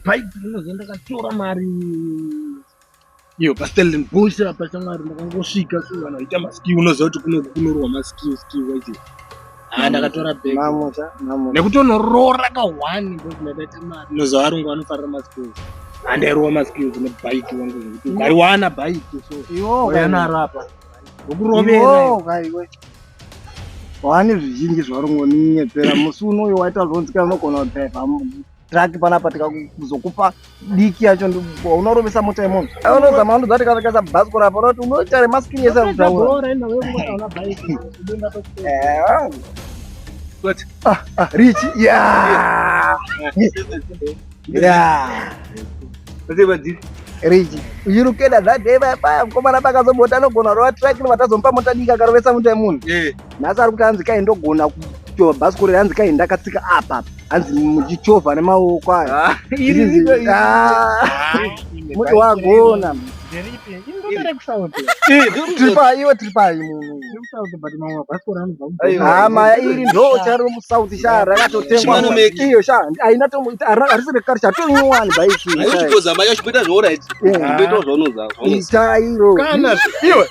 bhaibhi rinonzi ndakatora mari iyo pastellenbosh apa shamwari ndakangosvika so vanhu vaita maskill unoziva kuti kunoku kunorowa maskill skill wacho haa ndakatora bag mamusha mamusha nekutonorora ka one because ndakaita mari unoziva varungu vanofarira maskill handairowa maskill dzine bike wangu zvekuti ukariwana bike so iwo yanarapa ukurovera kaiwe waane zvizhinji zvarungu ninyepera musi unoyo waita zvonzi kana unogona kudhaiva drug panapa tikakuzokupa diki yacho unorovesa mota yemunhu unozama unodza tikatakaisa bhasikoro apa unoti unoita remaskini yese akutaura What? Ah, ah, Richie. Yeah. yeah. Richie. You look at that day, bye bye. Mkomana baka zobota no gona roa track ni watazo mpa mota dika karowesa mtu ya munu. Yeah. nhasi ari kuti hanzi kai ndogona kuchovha bhasikoro hanzi kai ndakatsika apa hanzi muchichovha nemaoko ayo ah, ah, muti wagona tiripayiwe tiripayi munhuhama iri ndo charo musouth sha rakatotengwaiyo sha aina harisi rekare chatonyowani bhaiki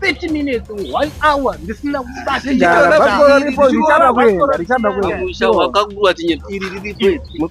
30 minutes one hour ndisina kubasamusha wakakura tinye iri riripo